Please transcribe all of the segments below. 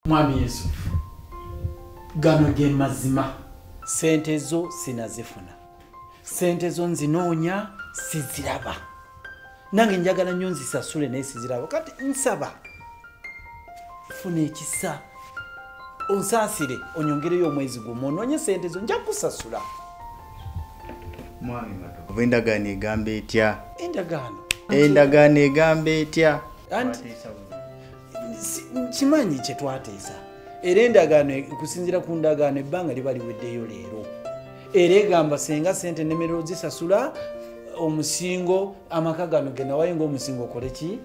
mwami yusufu gano ge mazima sente zo sinazifuna sente zo nzinoonya siziraba nange njagala nnyo nzisasule naye siziraba kati nsaba funa ekisa onsaasire onyongereyo omwezi gumu onoonye sente zo nja kusasula oba endagaano egamba etya endagaano endagaano egamba etya kimanyi kye twateesa era endagaano e, okusinziira ku ndagaano ebbanga liba liweddeyo leero era egamba senga sente nemerero zisasula omusingo amaka gano genawayo ngaomusingo okole ki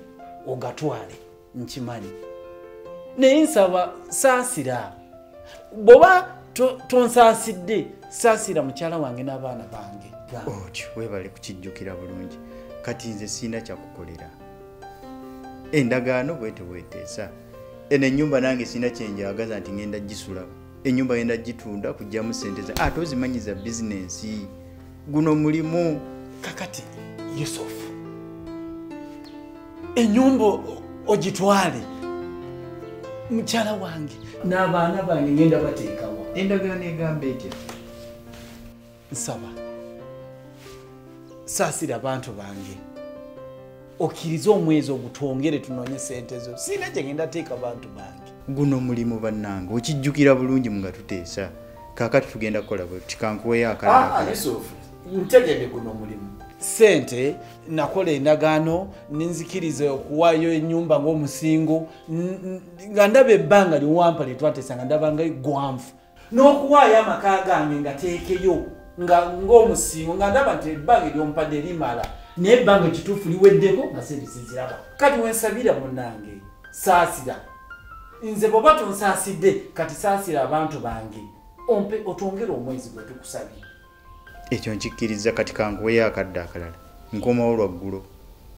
ogatwale nkimanyi naye nsaba saasira bwoba tonsaasidde saasira mukyala wange n'abaana bange otyo webale kukijjukira bulungi kati nze sirina kyakukolera endagaano bwete bweteesa eno enyumba nange sina kyenjagaza nti ngenda gisula enyumba yenda gitunda kujjamu sente za ate ozimanyiza bizinensi guno mulimu kakati yusuf enyumba ogitwale mukyala wange n'abaana bange ngenda bateekawo endagaano egamba etya nsaba saasira abantu bange okkirize omwezi ogutwongere tunoonye sente zo siina gyegenda teeka bantu bange guno mulimu bannange okijjukira bulungi mu nga tuteesa kaakati tugenda kukola bwe tikankuweyo akalaalisuufu ah, ntegede guno mulimu sente nakola endagaano nenzikiriza okuwaayo enyumba ngaomusingo nga ndaba ebbanga liwampa lyetwatesa nga ndabanga egwanvu n'okuwaayo amaka gange nga teekeyo nga ng'omusingo nga ndaba nti ebbanga eryompadde limala naye ebbanga ekituufu liweddeko nga sente siziraba kati wensabira munange saasira nze bwoba tonsaasidde kati saasira abantu bange ompe otwongere omwezi gwe tukusabye ekyo nkikkiriza kati kankuweyo akadde akalala nkomawo lwaggulo